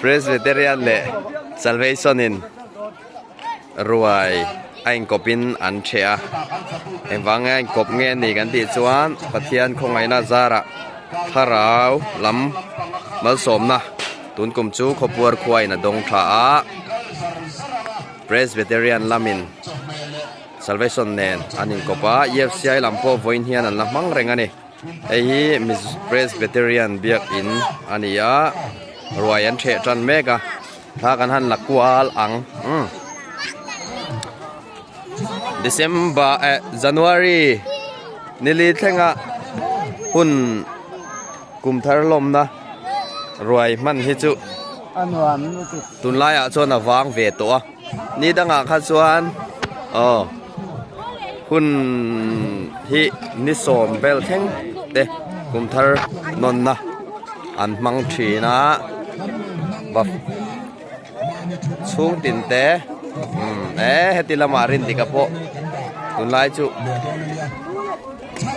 Presbyterian leh Salvation in ruai a inkawp in an chhe a engvang a inkawp nge a nih kan tih chuan Pathian khawngaihna zarah thlarau lam malsawmna. Tun kum chu khawpuar khua in a dawng tha a, Presbyterian lam in Salvation nen an in kawp a, EFCI lam pawh vawiin hian an la hmang reng a ni. Hei hi Presbyterian biak in a ni a, ruai an theh tan mek a, thla kan han la kual ang. December eh January nili thlenga hun kum thar lawmna. ruai hman hi chu tun lai ah chuan a vang ve tawh a ni dang ah khan chuan aw hun hi ni sawm vel thleng te kum thar nawn na an hmang thin a va chhung tin te e heti lamah rin dik a pawh tun lai chu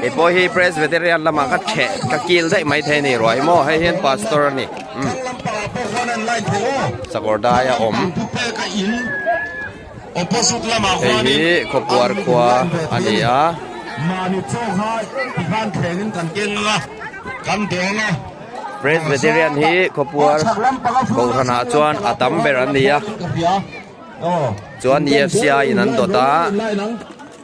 Hei pawh hi Presbyterian lama ka chheh ka kil daih mai thei ni ruai maw hei hian pastor a ni um sakawr dai a awm hei hi khawpuar khua a ni a Presbyterian hi khawpuar Kohhranah chuan a tam ber an ni a chuan F C I in an dawt a.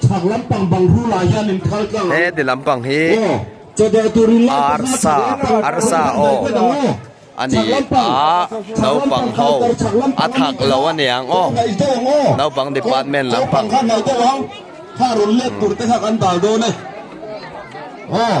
Chhak lampang bang hru lah hian in khal tlang ang. He ti lampang hi arsa, arsa aw a ni a, naupang ho a thak lo a niang aw, naupang department lampang. Kha rawn lep tur te kha kan dal dawn e. Aw.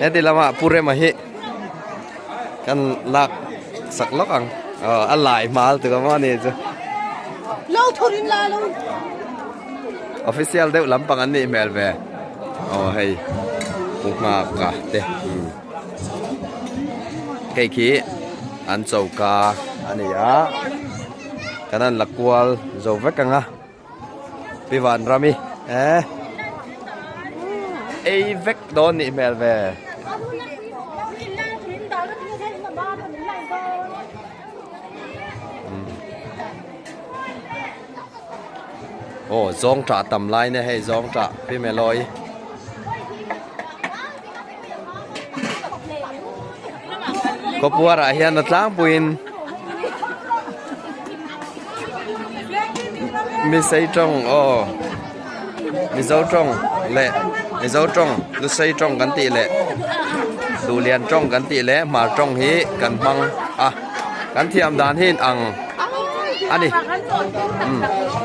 Heti lama Pu Rema hi kan lak sak lawk ang. A lai hmal tuk ang maw ni chu. Lo thur in la lo. Official deuh lampang an nih hmel ve. Aw hei. Pu Hma Ka te. Hei khi an choka a ni a. Kan an la kual zo vek ang a. Pi Vanrami e, ei vek dawn nih hmel ve. Aw zawngṭah tam lai nâ hei zawngṭah Pi Melloy. Khawpuara ah hian a tlangpuiin Misei tawng aw Mizo tawng leh Mizo tawng Lusei tawng kan tih leh Duhlian tawng kan tih leh Hmar tawng hi kan hmang a, kan thiam dan hi'n ang a ni.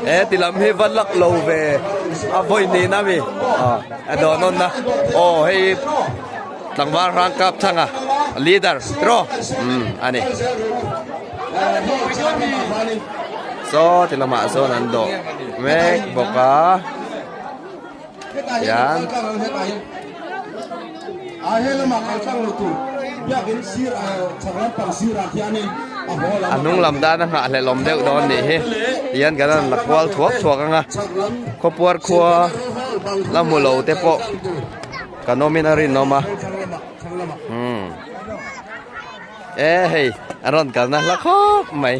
He ti lam hi va lak lo ve a vawi nihna mi. A dawn nawn na aw hei hi tlangval rangkap chhanga leader tiraw um ani saw ti lamah sawn an dawh mek bawk a tian. A he lam ah kal tlang lo tur biak in sir a chhak lampang sir ah hian in a haw lam a kal thei. Hnunglam dan a nghah hle lawm deuh dawn nih hi tian kan rawn la kual thuak thuak ang a, khawpuar khua la hmu lo te pawh kan awm in a rinawm a, umm e hei a rawn kalna hla khawp mai.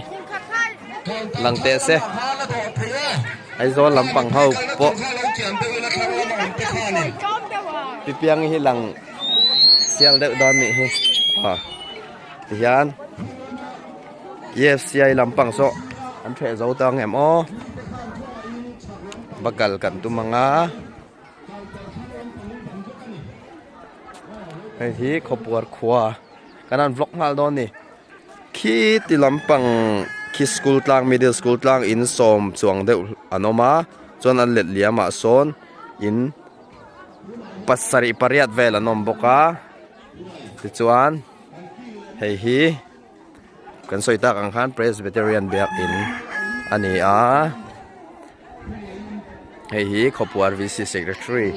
Lang teh se Aizawl lampang ho pawh Pipiangi hi lang sial deuh dan nih hi ah tihian EFCI lampang saw an hreh zo ta ang em aw bakal kan tum ang a hei hi khawpuar khua kan han vlog nghal dawn ni Khi ti lampang khi school tlang middle school tlang in sawm chuang deuh an awm a chuan an let liam ah sawn in pasarih pariat vel an awm bawk a tichuan hei hi kan sawi tak ang khan presbyterian biakin a ni a hei hi khaw puar V C secretary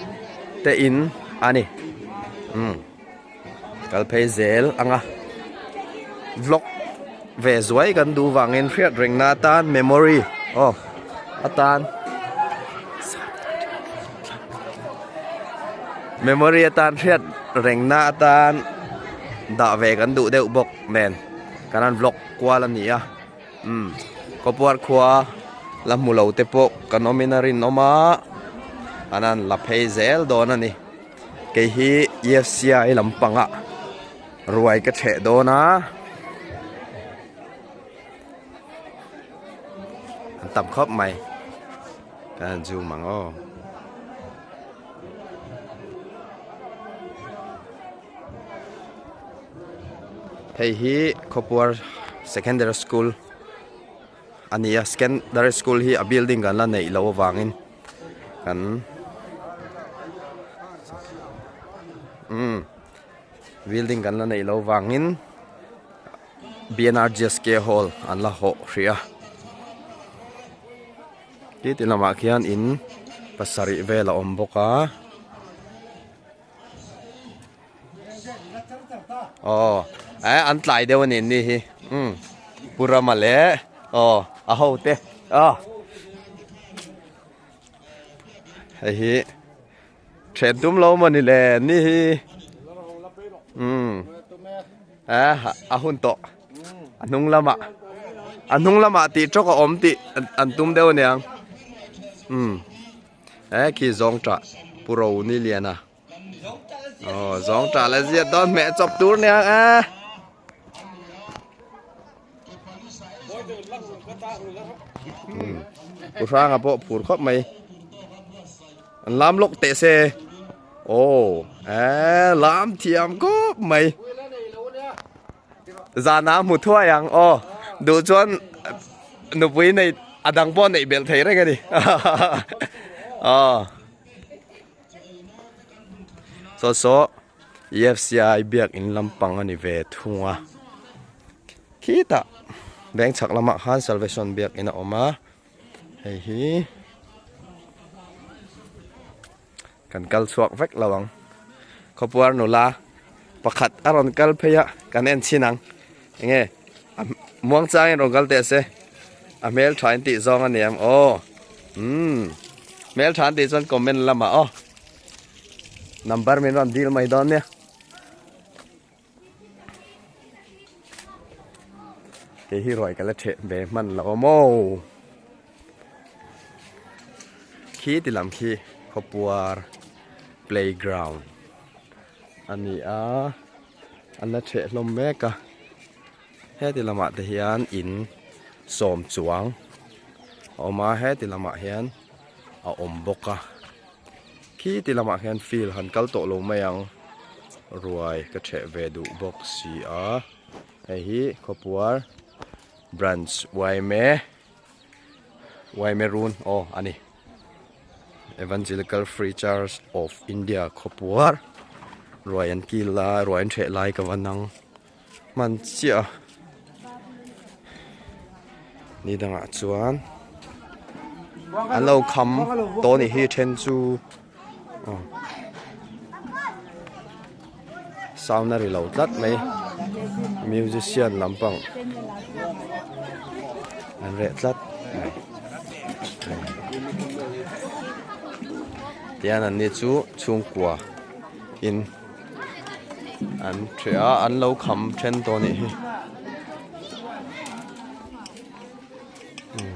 te in a ni umm. Kal phei zel anga vlog ve zuai kan duh vangin hriat rengna atan memory aw atan memory atan hriat rengna atan dah ve kan duh deuh bawk nen kan han vlog kual a nia umm khawpuar khua la hmu lo te pawh kan awmin a rinawm a an han la phei zel dawn a ni. kei hi EFCI lam pangah ruai ka chheh dawn a an tam khawp mai ka han zoom ang aw hei hi Khawpuar secondary school. A ni a, Secondary School hi a building kan la neih loh avangin kan umm building kan la neih loh avangin BNRGSK Hall an la hawh hrih a. Tih tih lamah khian in pasarih vel a awm bawk a. oh eh an tlai deuh a nen ni hi umm pu rama leh oh a ho te oh hei hi then tum lo mawni le ni hi umm eh a hun tawh a hnung lamah a hnung lamah tih trawk a awm tih an tum deuh a niang umm eh khi zawngṭah pu roni liana. oh zawng ta la ziah dawn hmeh a chawp tur nia a pu hranga pawh phur khawp mai an lam lawk teh se oh a lam thiam khawp mai zana hmu thuai ang oh du chuan nupui nei a dang pawh a neih belh thei reng a ni oh Saw saw EFCI biak in lam pang a ni ve thung a. Khitah beng chak lamah khan Salvation biak in a awm a. Hei hi kan kal chhuak vek lo ang. Khawpuar nula pakhat a rawn kal phei a kan en chin ang. Enge? A muangchangin rawn kal teh a se. A hmeltha in tih zawng a ni ang. Aw. Umm. Hmeltha an tih chuan comment lamah aw. Number min rawn dil mai dawn nia. Kei hi ruai ka la theh ve hman lo awm o. Khi ti lam khi khawpuar playground a ni a. An la chheh hlawm mek a, heti lamah te hian in sawm chuang a awm a, heti lamah hian a awm bawk a, khiti lamah hian field han kal tawh lo mai ang, ruai ka chheh ve duh bawk si a, hei hi khawpuar branch uaime uaime run aw a ni. Evangelical Free Church of India khawpuar ruai an kil lai ruai an hreh lai ka va nang hman chiah a ni dangah chuan an lo kham tawh a nih hi a then chu-- aw sound a ri lo tlat mai musician lam pang an reh tlat mai tian an ni chu chhungkua in an ṭheh a an lo kham ṭhen tawh a nih hi umm.